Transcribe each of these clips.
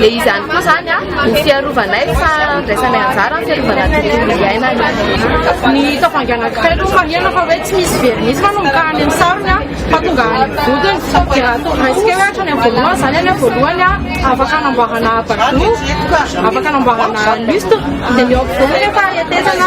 Dia izany koa izany no fiarovanay fa handraisanay anjara amin'ny fiarovana ny tontolo iainana. Ny tavoahangy anankiray aloha marihana fa hoe tsy misy vernis fa nomokany amin'ny sarony fa tonga any amin'ny vodiny. Dia raha toa raisika hoe hatrany amin'ny voalohany izany anie voalohany afaka hanamboarana bateau, afaka hanamboarana lustre dia ny eo ampovoany anefa hetezana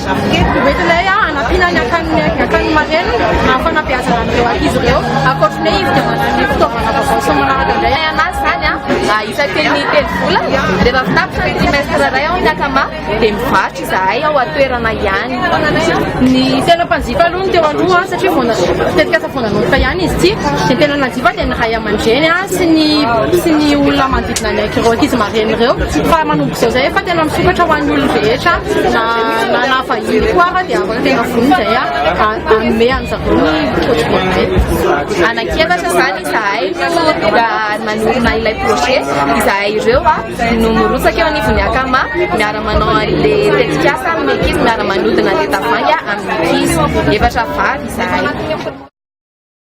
Eto mety ilay hanampiana ny akan'ny akan'ny marraine amin'ny fanabeazana an'ireo ankizy ireo. Ankoatry ny hoe izy dia manana ny fitaovana vaovao sy ny manaraka indray anazy izany isan-teny telo volana. Rehefa avy tapitra ny trimestre iray ao ny akama dia mivarotra izahay ao an-toerana ihany. Ny tena mpanjifa aloha ny teo aloha satria vao na- tetikasa vao nanomboka ihany izy ity. Ny tena nanjifa dia ny ray aman-dreny sy ny sy ny olona manodidina. na ny ankiroa ankizy mareny ireo fa manomboka izao zay fa tena misokatra ho an'ny olony rehetra na na na vahiny koa fa dia afaka tena voniny zay a anome an'zareo ny projet anankiefatra zany izahay mba manorina ilay projet izahay ireo a no mirotsaka eo anivon'ny akama miara manao an'le tetikasa amin'ny ankizy miara manodina le tavoahangy amin'ny ankizy efatra vavy izahay